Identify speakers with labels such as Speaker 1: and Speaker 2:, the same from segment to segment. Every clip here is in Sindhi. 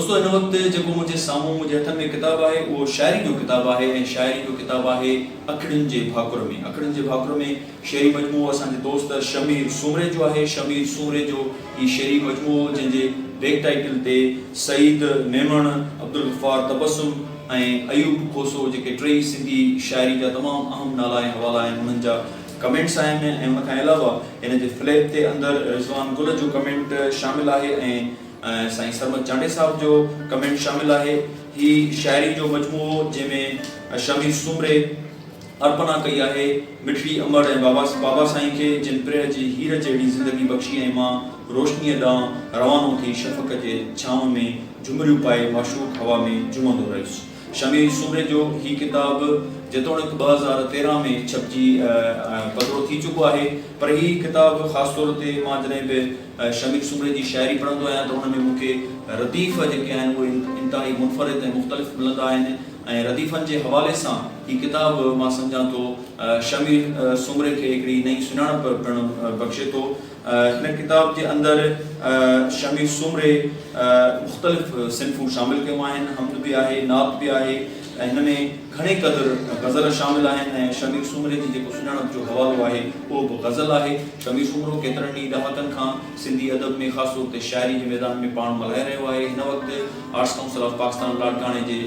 Speaker 1: دوستو هن وقت جيڪو منهنجي سامهون منهنجي هٿن ۾ ڪتاب آهي اهو شاعري جو ڪتاب آهي ۽ شاعري جو ڪتاب آهي اکڙين جي ڀاڪر ۾ اکڙين جي ڀاڪر ۾ شعري مجموعو اسان جي دوست شمير سومري جو آهي شمير سومري جو هي شعري مجموعو جنهن جي بيڪ ٽائيٽل تي سعيد ميمڻ عبدالغفار تبسم ۽ ايوب کوسو جيڪي ٽيئي سنڌي شاعري جا تمام اهم نالا ۽ حوالا آهن انهن جا ڪمينٽس آهن ۽ ان کان علاوه هن جي فليپ تي اندر رضوان گل جو ڪمينٽ شامل آهي ۽ سائين سرمد چانڊئي صاحب جو ڪمينٽ شامل آهي. هي شاعري جو مجموعو جنهن ۾ شميس سومري ارپنا ڪئي آهي مٺڙي امڙ ۽ بابا بابا سائين کي جن پرهه جي هير جهڙي زندگي بخشي ۽ مان روشنيء ڏانهن روانو ٿي شفق جي ڇانو ۾ جهمريون پائي معشوق هوا ۾ جهومندو رهيس شميس سومري جو هي ڪتاب جيتوڻيڪ ٻه هزار تيرهن ۾ ڇپجي پڌرو ٿي چڪو آهي پر هي ڪتاب خاص طور تي مان جڏهن به شميم سومري جي شاعري پڙهندو آهيان ته ان ۾ مون کي رديف جيڪي آهن اهي انتهائي منفرد ۽ مختلف ملندا آهن ۽ رديفن جي حوالي سان هي ڪتاب مان سمجهان ٿو شميم سومري کي هڪڙي نئين سڃاڻپ پڻ بخشي ٿو. هن ڪتاب جي اندر شميم سومري مختلف صنفون شامل ڪيون آهن، حمد به آهي، نعت به آهي، ۽ هن ۾ گهڻي قدر غزل شامل آهن ۽ شمير سومري جي جيڪو سڃاڻپ جو حوالو آهي اهو به غزل آهي. شمير سومرو ڪيترن ئي ڏهاڪن کان سنڌي ادب ۾ خاص طور تي شاعري جي ميدان ۾ پاڻ ملهائي رهيو آهي. هن وقت آرٽس ڪائونسل آف پاڪستان لاڙڪاڻي جي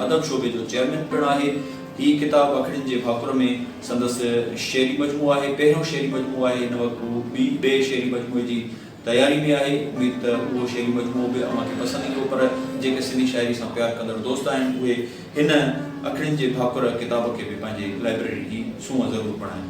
Speaker 1: ادب شعبي جو چيئرمين پڻ آهي. هي ڪتاب اکڙين جي ڀاڪر ۾ سندس شعري مجموعو آهي. پهريون شعري مجموعو آهي. هن وقت هو ٻئي شعري مجموعي جي تياري ۾ آهي اميد ته اهو شعري مجموعو به اوهان کي پسند ايندو پر جيڪي سنڌي شاعري سان پيار ڪندڙ دوست آهن اهي هن اکڙين جي ڀاڪر ڪتاب کي به پنهنجي لائبريري جي سونهن ضرور بڻائين.